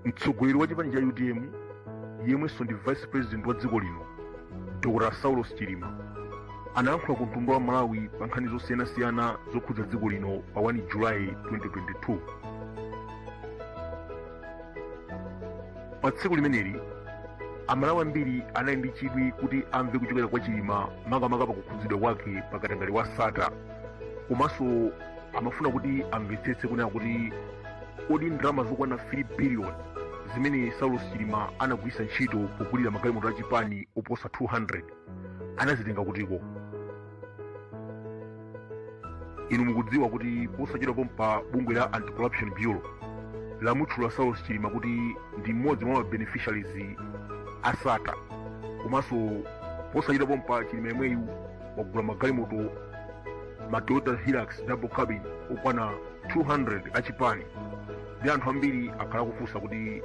mtsogoleri wa chipani cha utm yemwenso ndi vice president wa dziko lino dr saulos chilima anayankhula ku mtundu wa malawi pa nkhani zosiyanasiyana zokhudza dziko lino pa 1 julayi 2022 pa tsiku limeneli amalawi ambiri anali ndi chidwi kuti amve kuchokera kwa chilima makamaka pakukhudzidwa kwake pakatangale wa sata komanso amafuna kuti amvetsetse kunena kuti kodi ndalama zokwana 3 billion zimene saulos chilima anagwiritsa ntchito pogulira magalimoto achipani oposa 200 anazitenga kutiko inu mukudziwa kuti posachedwa pompa bungwe la anti-corruption bureau lamutchula saulos chilima kuti ndi mmodzi mwa mabeneficiaries a sata komanso posachedwa pompa chilima yemweyu wagula magalimoto ma toyota hilux double cabin okwana 200 achipani ndi anthu ambiri akhala akufunsa kuti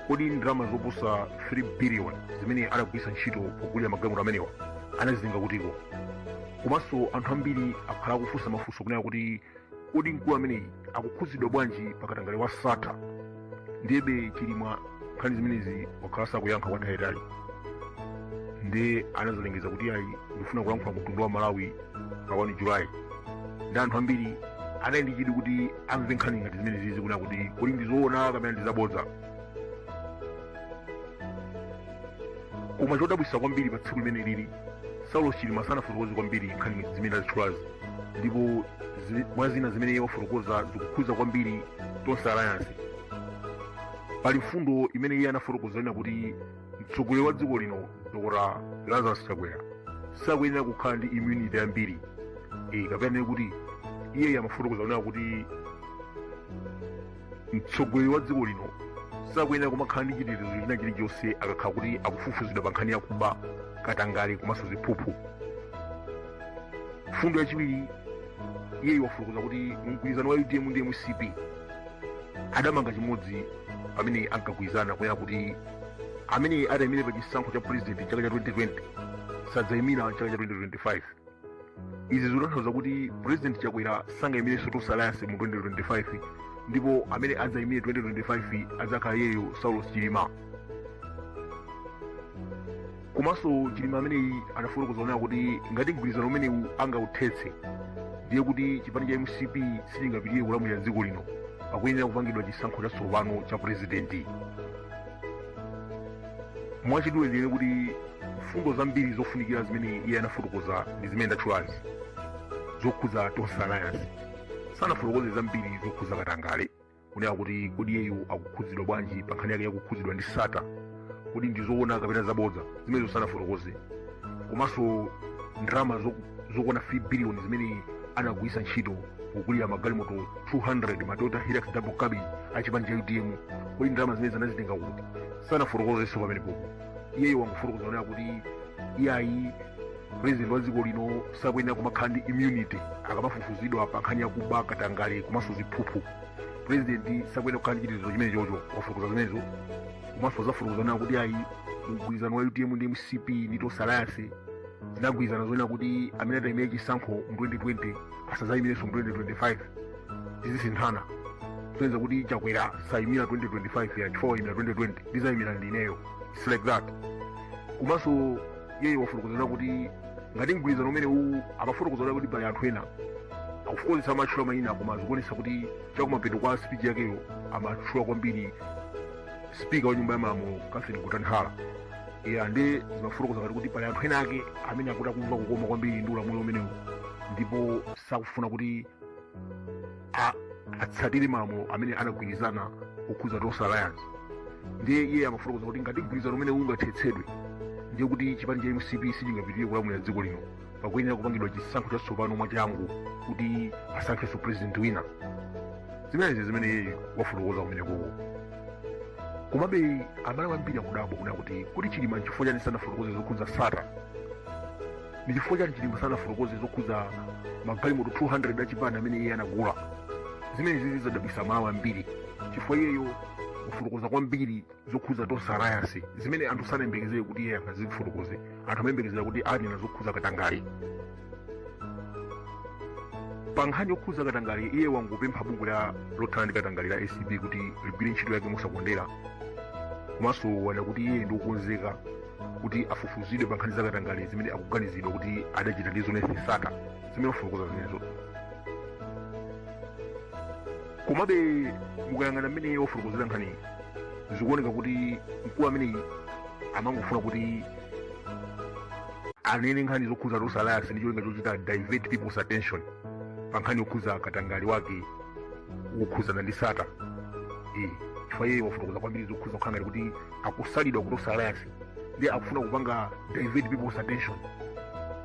kodi ndalama zoposa 3 biliyoni zimene anagwiritsa ntchito pogulira magalimoto amenewa anazitenga kutiko komanso anthu ambiri akhala akufunsa mafunso kunena kuti kodi mkulu ameneyi akukhudzidwa bwanji pakatangale wa sata ndiyebe chilima nkhani zimenezi wakhala sakuyankha kwa nthawi yaitali ndi anazalengeza kuti ayi ndifuna kulankhula ku mtundu wa malawi pa 1 julayi ndi anthu ambiri anali ndi chidwi kuti amve nkhani ngati zimene zizi kunena kuti kodi ndi zoona kapena ndi zabodza koma chodabwitsa kwambiri pa tsiku limene lili saulos chilima sanafotokoze kwambiri nkhani zimene ndazitchulazi ndipo mwa zina zimene iye wafotokoza zikukhudza kwambiri tonse alliance pali mfundo imene iye anafotokoza ina kuti mtsogoleri wa dziko lino dr lazarus chakwera sakuyenera kukhala ndi immunity yambiri e, kapena tinene kuti iye amafotokoza kunena kuti mtsogoleri wa dziko lino sakuyenera kumakhala ndi chitetezo china chilichonse akakhala kuti akufufuzidwa pa nkhani yakuba katangale komanso ziphuphu mfundo yachiwiri iye wafotokoza kuti mgwirizano wa utm ndi mcp adamanga chimodzi pamene ankagwirizana kunena kuti amene atayimire pa chisankho cha purezidenti chaka cha 2020 sadzayimira chaka cha 2025 izi zikutanthauza kuti purezidenti chakwera sangayimirenso tonse alliance mu 2025 ndipo amene adzayimire 2025 adzakhala iyeyo saulos chilima komanso chilima ameneyi anafotokoza kunena kuti ngati mgwirizano umenewu angauthetse ndiye kuti chipani cha mcp sichingapitire kulamulira dziko lino pakuyenera kupangidwa chisankho chatsopano cha purezidenti mwachidule ndinene kuti mfundo zambiri zofunikira zimene iye anafotokoza ndi zimene ndatchulazi zokhudza tonse alliance sanafotokoze zambiri zokhudza katangale kunena kuti kodi iyeyo akukhudzidwa bwanji pa nkhani yake yakukhudzidwa ndi sata kodi ndi zoona kapena zabodza zimenezo sanafotokoze komanso ndalama zokwana 3 biliyoni zimene anagwiritsa ntchito kugulira magalimoto 200 ma toyota hilux double cabin a chipani cha utm kodi ndalama zimenezo anazitenga kuti sanafotokozenso pamenepopo iyeyo wangofotokoza kunena kuti iyayi president wa dziko lino sakuyenera kumakhala ndi immunity akamafufuzidwa pa nkhani yakuba katangale komanso ziphuphu president sakuyenera kukhala ndi chitetezo chimenechocho wafotokoza zimenezo komanso wafotokoza kunena kuti ayi mgwirizano wa utm ndi mcp ndi tonse alliance zinagwirizana zonena kuti amene atayimire chisankho mu 2020 asazayimirenso mu 2025 tizisinthana kusonyeza kuti chakwera sayimira 2025 ya chifukwa wayimira 2020 ndizayimira ndineyo its like that komanso iyeyo wafotokoza kunena kuti ngati mgwirizano umenewu amafotokoza kunena kuti pali anthu ena akufotokoza samatchula mayina koma zikuonesa kuti chakumapeto kwa speech yakeyo amatchula kwambiri spika wa nyumba ya malamulo catherine gotani hara ya nde zimafotokoza ngati kuti pali anthu ena ake amene akuti akumva kukoma kwambiri ndi ulamuliro umenewu ndipo sakufuna kuti atsatire malamulo amene anagwirizana okhuza tonse alliance ndiye iye amafotokoza kuti ngati mgwirizano umenewu ungathetsedwe ndiye kuti chipani cha mcp sichingapitirire kulamulira dziko lino pakuyenera kupangidwa chisankho chatsopano mwachangu kuti asankhenso president wina zimenezi zimene iyeyo wafotokoza kumenekoko komabe amalawi ambiri akudabwa kunena kuti kodi chilima nchifukwa chani sanafotokoze zokhudza sata ndi chifukwa chani chilima sanafotokoze zokhudza magalimoto 200 achipani amene iye anagula zimenezi zadabwitsa amalawi ambiri chifukwa iyeyo akufotokoza kwambiri zokhudza tonse alliance zimene anthu sanayembekezere kuti iye angazifotokoze anthu amayembekezera kuti anena zokhudza katangale pa nkhani yokhudza katangale iye wangopempha bungwe la lothana ndi katangale la acb kuti ligwire ntchito yake mosakondera komanso wanena kuti iye ndi wokonzeka kuti afufuzidwe pa nkhani zakatangale zimene akuganizidwa kuti adachita ndi zuneth sata zimene wafotokoza zimenezo komabe mukayang'ana mmene wafotokozera nkhaniyi zikuoneka kuti mkulu ameneyi amangofuna kuti anene nkhani zokhuza tonse alliance ndi cholinga chochita divert people's attention pa nkhani yokhuza katangale wake wokhuzana ndi sata eh chifukwa iye wafotokoza kwambiri zokhuza kukhala ngati kuti akusalidwa ku tonse alliance ndiye akufuna kupanga divert people's attention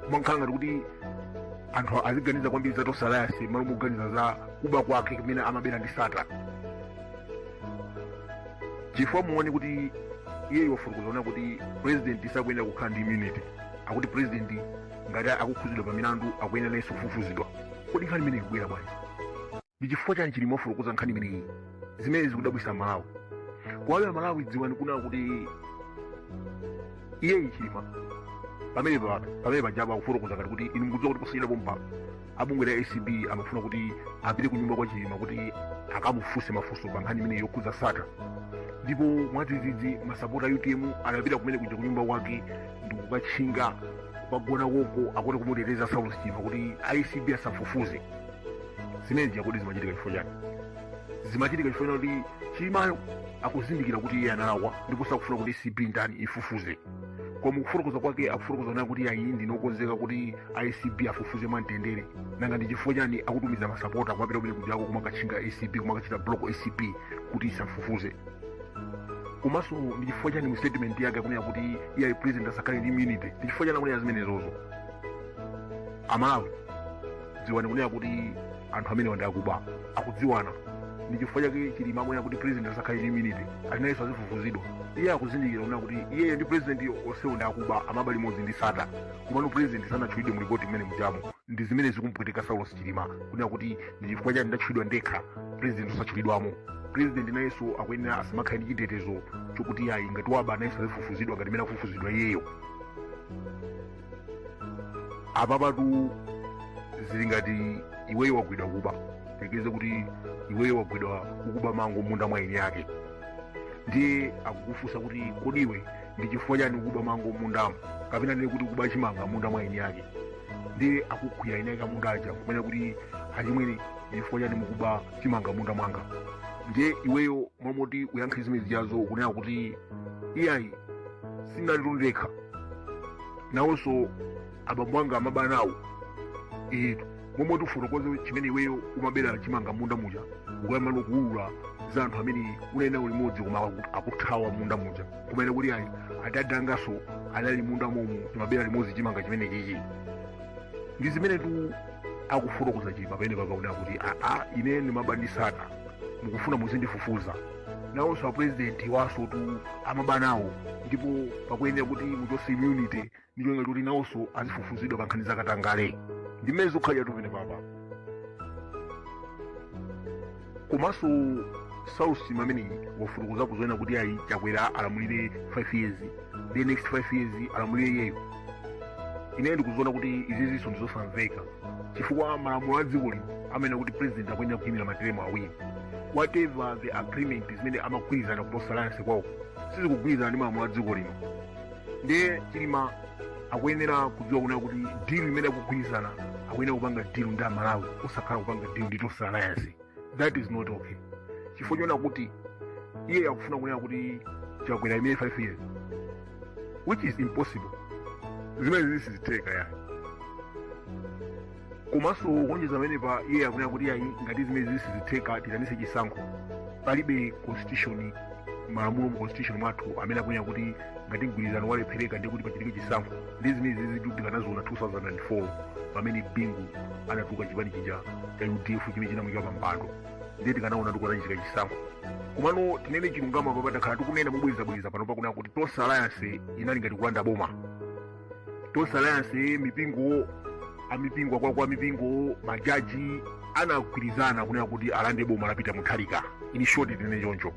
kumakhala ngati kuti anthu aziganiza kwambiri za tonse alliance mmalo moganiza za kuba kwake kumene amabera ndi sattar chifukwa muone kuti iye wafotokoza kunena kuti president sakuyenera kukhala ndi immunity akuti president ngati akukhudzidwa pa milandu akuyenera nayenso kufufuzidwa kodi nkhani imeneyi ikubwera bwanji ndi chifukwa chani chilima wafotokoza nkhani imeneyi zimene zikudabwitsa amalawi koma amalawi dziwani kunena kuti iye chilima pamene pake pamene pajaba akufotokoza ngati kuti inu mukudziwa kuti posachedwa pompa abungwe la acb amafuna kuti apite ku nyumba kwa chilima kuti akamufunse mafunso pa nkhani imeneyi yokhudza sattar ndipo mwadzidzidzi masapota a utm anapita kumene kuja ku nyumba kwake ndi kukatchinga kukagona koko akuti kumuteteza saulos chilima kuti acb asafufuze zimene zo kodi zimachitika chifukwa chani zimachitika chifukwa chokuti chilimayo akuzindikira kuti iye analakwa ndipo sakufuna kuti acb itani ifufuze koma kufotokoza kwake akufotokoza kunena kuti ayi ndine okonzeka kuti acb afufuze mwamtendere nanga ndi chifukwa chani akutumiza masapota kumapita kumene kujako kumakatchinga acb kumakachita block acb kuti isafufuze komanso ndi chifukwa chani mu statement yake akunena kuti iye ayi president asakhale ndi immunity ndi chifukwa chani akunena zimenezozo amalawi dziwani kunena kuti anthu amenewa ndi akuba akudziwana ndi chifukwa chake chilima akunena kuti president asakhale ndi immunity ali nayenso azifufuzidwa iye akuzindikira kunena kuti iyeyo ndi president onsewo ndi akuba amaba limodzi ndi sattar komano president sanatchulidwe mu lipoti mmenemujamo ndi zimene zikumpweteka saulos chilima kunena kuti ndi chifukwa chani ndatchulidwa ndekha president osatchulidwamo president nayenso akuyenera asamakhale ndi chitetezo chokuti ayi ngati waba nayenso azifufuzidwa ngati mmene akufufuzidwa iyeyo apapatu zili ngati iweyo wagwidwa kuba tiyerekeze kuti iweyo wagwidwa kukuba mango mmunda mwa eni yake ndiye akukufunsa kuti kodi iwe ndi chifukwa chani ukuba mango mmundamo kapena ndiye kuti ukuba chimanga mmunda mwa eni yake ndiye akugwira eni yake amunda aja kumanena kuti achimwene ndi chifukwa chani mukuba chimanga mmunda mwanga ndiye iweyo mmalo moti uyankhe zimene zijazo ukunena kuti iyayi sindinalitu ndekha nawonso abambo anga amaba nawo mmalo moti ufotokoze chimene iweyo umabera chimanga mmunda muja ukuyamba nokuwulula za anthu amene unayenda nawo limodzi koma aku- akuthawa mmunda muja kumanena kuti ayi adadi anganso anali mmunda momo timabera limodzi chimanga chimenechichi ndi zimenetu akufotokoza chilima pamenepa kunena kuti aa ine ndimaba ndi sattar mukufuna muzindifufuza nawonso apurezidenti wansotu amabanawo ndipo pakuyenera kuti muchose immunity ndi cholinga choti nawonso azifufuzidwa pa nkhani zakatangale ndi mmene zikhalira tu pamenepapa komanso saulosi ameneyi wafotokoza kuzanena kuti ayi chakwera alamulire 5 years the next 5 years alamulire iyeyo ineyo ndikuziona kuti izizinso ndizosamveka chifukwa malamulo a dziko lino amanena kuti president akuyenera kuyimira materemu awiri whatever the agreement zimene amagwirizana ku tonse alliance kwawo sizikugwirizana ndi malamulo a dziko lino ndiye chilima akuyenera kudziwa kunena kuti deal imene akugwirizana akuyenera kupanga deal ndi amalawi osakhala kupanga deal ndi tonse alliance that is not okay chifukwa chonena kuti iye akufuna kunena kuti chakwera aimire 5 years which is impossible zimenezi sizitheka ayi komanso kuonjeza pamenepa iye akunena kuti ayi ngati zimenezi sizitheka tiitanise chisankho palibe constitution malamulo mu constitution mwathu amene akunena kuti ngati mgwirizano walephereka nde kuti pachitike chisankho ndiye zimenezizitu tikanaziona 2004 pamene bingu anatuluka chipani chija cha udf chimene chinamuika pampando ndiye tikanaona kuti kunachitika chisankho komano tinene chilungamo papa takhala tikunena mobwerezabwereza pano pakunena kuti tonse alliance inali ngati kulanda boma tonse alliance mipingo amipingo akulukulu mipingo majaji anagwirizana kunena kuti alande boma la pita mutharika in short tinene choncho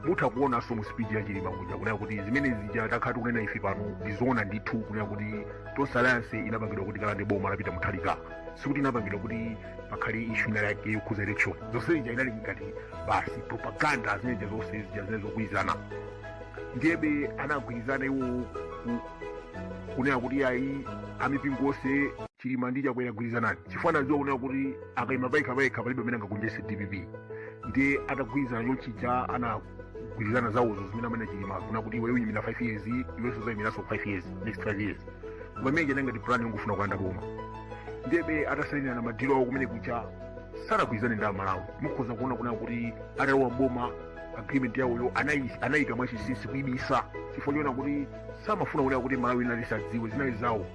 mutha kuonanso mu speech ya chilima kuja kunena kuti zimene zija takhala tikunena ife pano ndizoona ndithu kunena kuti tonse alliance inapangidwa kuti ikalande boma la pita mutharika sikuti inapangidwa kuti pakhale ishu ina yake yokhuza election zonse zija inali ngati basi propaganda zimene zija zonse zija zimene zogwirizana ndiyebe anagwirizana iwo ku- kunena kuti ayi amipingo onse chilima ndi chakwera gwirizanani chifukwa anadziwa kunena kuti akaima payekha payekha palibe amene angagonjetse dpp ndiye atagwirizana chonchija anagwirizana zawozo zimene amanena chilima kunena kuti iwe uyimira 5 years iwenso uzayimiranso 5 years next 5 years koma imene ija inali ngati plan yongofuna kulanda boma ndebe atasainirana madilo awo kumene kuja sanagwirizane ndi amalawi mukhoza kuona kunena kuti atalowa boma agreement yawoyo anayi- anayika mwachinsinsi kuibisa chifukwa chonena kuti samafuna kunena kuti amalawi ena asadziwe zinali zawo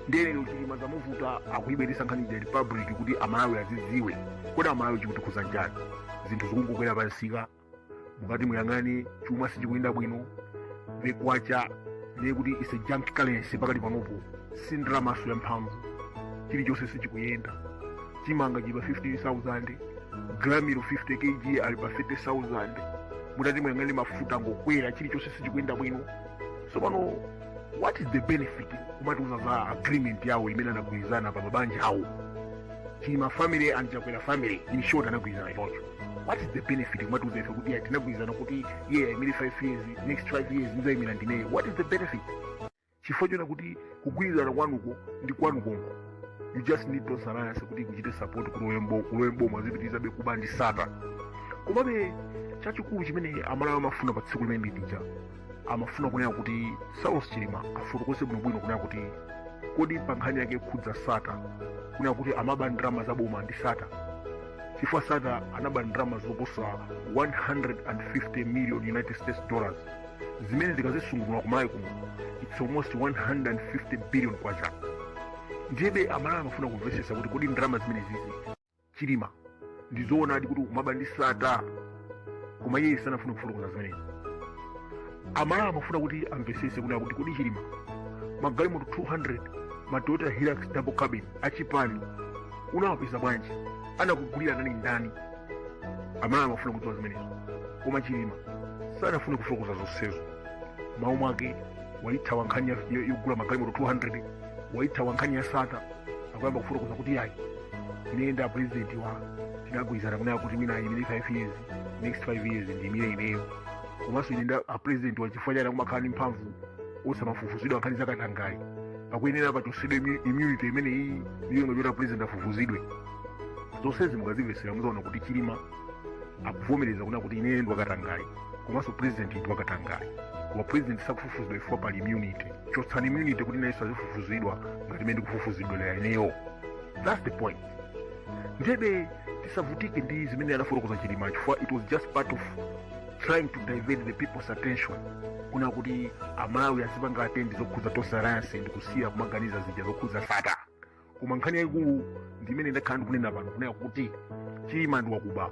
ndiye lero chilima zamuvuta akuyibweresa nkhani ija ku public kuti amalawi azidziwe kodi amalawi chikutikhuza nchani zinthu zikungokwera pamsika mukati muyang'ane chuma sichikuyenda bwino the kwacha ndiye kuti is a junk currency pakati panopo si ndalamanso ya mphamvu chilichonse sichikuyenda chimanga chili pa 15000 gramilo 50 kg ali pa 30000 mutati muyang'ane mafuta angokwera chilichonse sichikuyenda bwino so pano what is the benefit kumatiuza za agreement yawo imene anagwirizana pa mabanja awo chilima family and chakwera family in short anagwirizana choncho what is the benefit kumatiuza ife kuti tinagwirizana kuti iye ayimire 5 years next 5 years ndizayimira ndineyo what is the benefit chifukwa chona kuti kugwirizana kwanuko ndi kwanukonko you just need tonse alliance kuti kuchite support kulowe mbo- kulowe mboma zipitirizabe kuba ndi sata komabe chachikulu chimene amalawi amafuna pa tsiku limene lija amafuna kunena kuti saulos chilima afotokoze bwinobwino kunena kuti kodi pa nkhani yake yokhudza sata kunena kuti amaba ndalama za boma ndi sata chifukwa sata anaba ndalama zoposa 150 million united states dollars zimene tikazisungunula kumalawi kuno its almost 150 billion kwacha ndiyebe amalawi amafuna kumvetsetsa kuti kodi ndalama zimenezizi chilima ndizoonadi kuti ukumaba ndi sata koma iye sanafune kufotokoza zimenezi amalawi amafuna kuti amvesese kunena kuti kodi chilima magalimoto 200 ma toyota hilux double cabin achipani unawapeza bwanji anakugulira ndani ndani amalawi amafuna kudziwa zimenezo koma chilima sanafune kufotokoza zonsezo mmalo mwake waithawa nkhani ya- ya- yogula magalimoto 200 waithawa nkhani ya sata akuyamba kufotokoza kuti yayi ine nda president wa tinagwirizana kunena kuti wina ayimire 5 years next 5 years ndiyimire ineyo komanso ine nda a president wa chifukwa chani akumakhala ndi mphamvu osamafufuzidwa nkhani zakatangale pakuyenera pachosedwe immu- immunity imeneyi ndi cholinga choti a president afufuzidwe zonsezi mukazimvesera muzaona kuti chilima akuvomereza kunena kuti ineyo ndi wakatangale komanso president ndi wakatangale koma president sakufufuzidwa chifukwa pali immunity chotsani immunity kuti nayenso azifufuzidwa ngati mmene ndikufufuzidwira ineyo that's the point ndebe tisavutike ndi zimene anafotokoza chilima chifukwa it was just part of trying to divert the people's attention kunena kuti amalawi azipanga attend zokhudza tonse alliance ndi kusiya kumaganiza zija zokhudza sata koma nkhani yayikulu ndi imene ndakhala ndikunena pano kunena kuti chilima ndi wakuba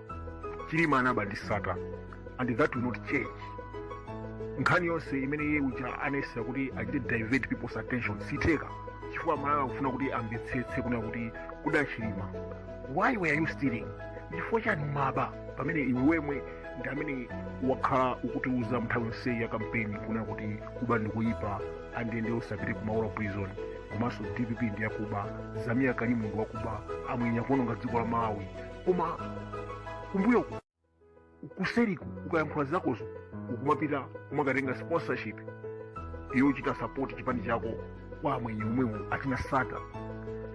chilima anaba ndi sata and that will not change nkhani yonse imene iye uja anayesetsa kuti achite divert people's attention sitheka chifukwa amalawi akufuna kuti amvetsetse kunena kuti kodi a chilima why were you stealing chifukwa chani umaba pamene iwe wemwe ndi amene wakhala ukutiuza nthawi yonseyi ya kampeni kunena kuti kuba ndikuyipa andende usapite kumaula prison komanso dpp ndi yakuba zameer karim ndi wakuba amwenye akuononga dziko la malawi koma kumbuyoku kuseriku ukayankhula zakozo ukumapita kumakatenga sponsorship yochita sapoti chipani chako kwa amwenye omwewo achina sata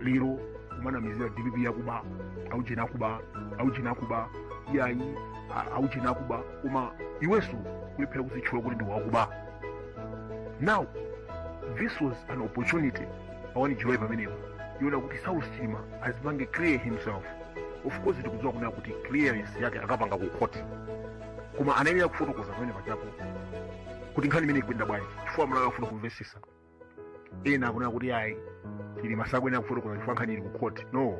lero kumanamizira dpp yakuba aujeni akuba aujeni akuba yayi a- aujeni akuba koma iwenso kulephera kuzitchula kuti ndi wakuba now this was an opportunity awani chiloyi pamenepo yonena kuti saulos chilima azipange clear himself of course tikudziwa kunena kuti clearance yake akapanga ku court koma anayenera kufotokoza pamene pajapo kuti nkhani imene ikuyenda bwanji chifukwa amalawi akufuna kumvetsetsa ena akunena kuti ayi chilima sakuyenera kufotokoza chifukwa nkhani ili ku khoti no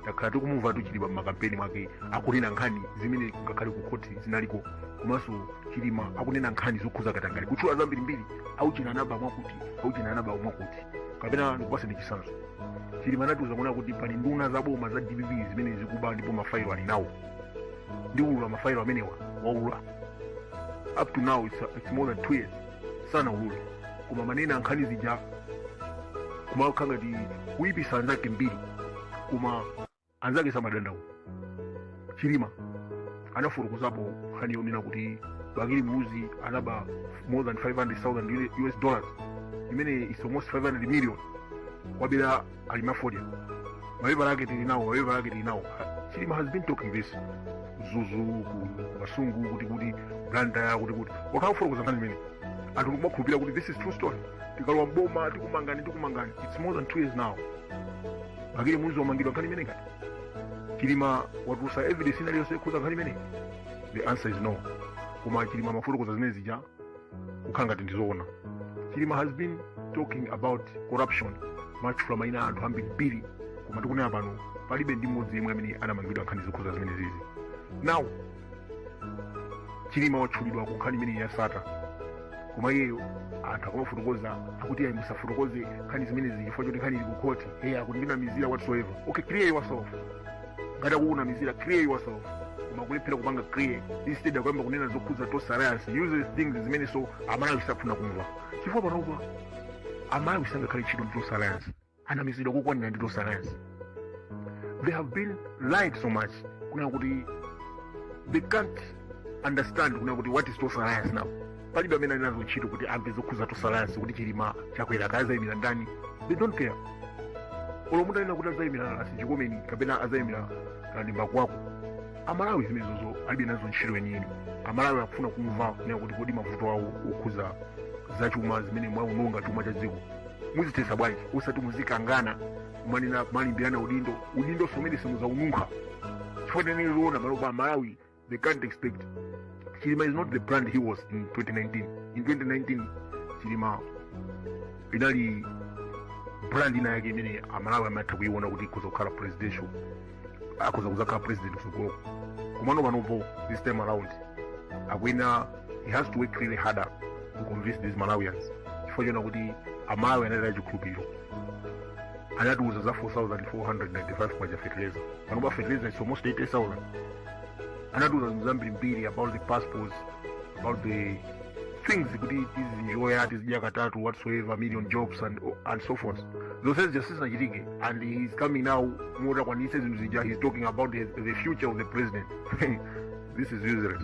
takhala tikumumva chilima mmakampeni mwake akunena nkhani zimene ngakhale ku khoti zinaliko komanso chilima akunena nkhani zokhuza katangale kutchula zambirimbiri aujeni anaba mwakuti aujeni anaba mwakuti kapena ndikupatseni chitsanzo chilima anatiuza kunena kuti pali nduna za boma za dpp zimene zikuba ndipo mafailo ali nawo ndiulula mafailo amenewa waulula up to now it's, it's more than two years sanaulule koma amanena nkhani zija kumakhala ngati kuipisa anzake mbiri koma anzake samadandaula chilima anafotokozapo nkhani yonena kuti bakili muluzi anaba more than 500000 us dollars imene is almost 500 million wabera alimi a fodya mapepala ake tili nawo mapepala ake tili nawo chilima has been talking this mzuzu ku kasungu kuti kuti blantyre kuti kuti wakhala akufotokoza nkhani imene anthu nkumakhulupirira kuti this is true story tikalowa mboma tikumangani tikumangani its more than two years now bakili muluzi wamangidwa nkhani imeneyi kapena chilima watulutsa evidence inaliyonse yokhuza nkhani imeneyi the answer is no koma chilima amafotokoza zimene zija kukhala ngati ndizoona chilima has been talking about corruption amatchula maina anthu ambirimbiri koma tikunena pano palibe ndi mmodzi yemwe amene anamangidwa nkhani zokhuza zimenezizi now chilima watchulidwa ku nkhani imeneyi ya sattar koma iyeyo anthu akamafotokoza akuti ayi musafotokoze nkhani zimenezi chifukwa choti nkhani ili ku khoti iye akuti akundinamizira whatsoever okay clear yourself ngati akukunamizira clear yourself koma kulephera kupanga clear instead akuyamba kunena zokhudza tonse alliance useless things zimenezo amalawi safuna kumva chifukwa panopa amalawi sangakhalenso ndi ntchito ndi tonse alliance anamizidwa kokwanira ndi tonse alliance they have been lied so much kunena kuti they can't understand kunena kuti what is tonse alliance now palibe amene ali nazo ntchito kuti amve zokhuza tonse alliance kuti chilima chakwera kaya azayimira ndani they don't care olo munthu anena kuti azayimira ras chikomeni kapena azayimira kamlepo kalua amalawi zimenezo alibe nazo ntchito chenicheni amalawi akufuna kumva kunena kuti kodi mavuto awo okhuza zachuma zimene mwaononga chuma cha dziko muzithetsa bwanji osati muzikangana kumanena kumalimbirana udindo udindo oti mwina simuzaununkha chifukwa tinene zoona panopa amalawi They can't expect. Chilima is not the brand he was in 2019. In 2019, Chilima inali brand ina yake imene amalawi amatha kuiona kuti ikhoza kukhala presidential akhoza kuzakhala president kutsogoloko komano panopo this time around akuyenera he has to work really harder to convince these malawians chifukwa choona kuti amalawi anataya chikhulupiriro anatiuza za 4495 kwacha fertilizer panopa fertilizer it's almost 80000 anatiuza zinthu zambirimbiri about the passports about the things kuti tizienjoya tizidya katatu whatsoever million jobs and, and so forth zonsezi sizinachitike and he is coming now osakwanitsa zinthu zija he is talking about the, the future of the president this is useless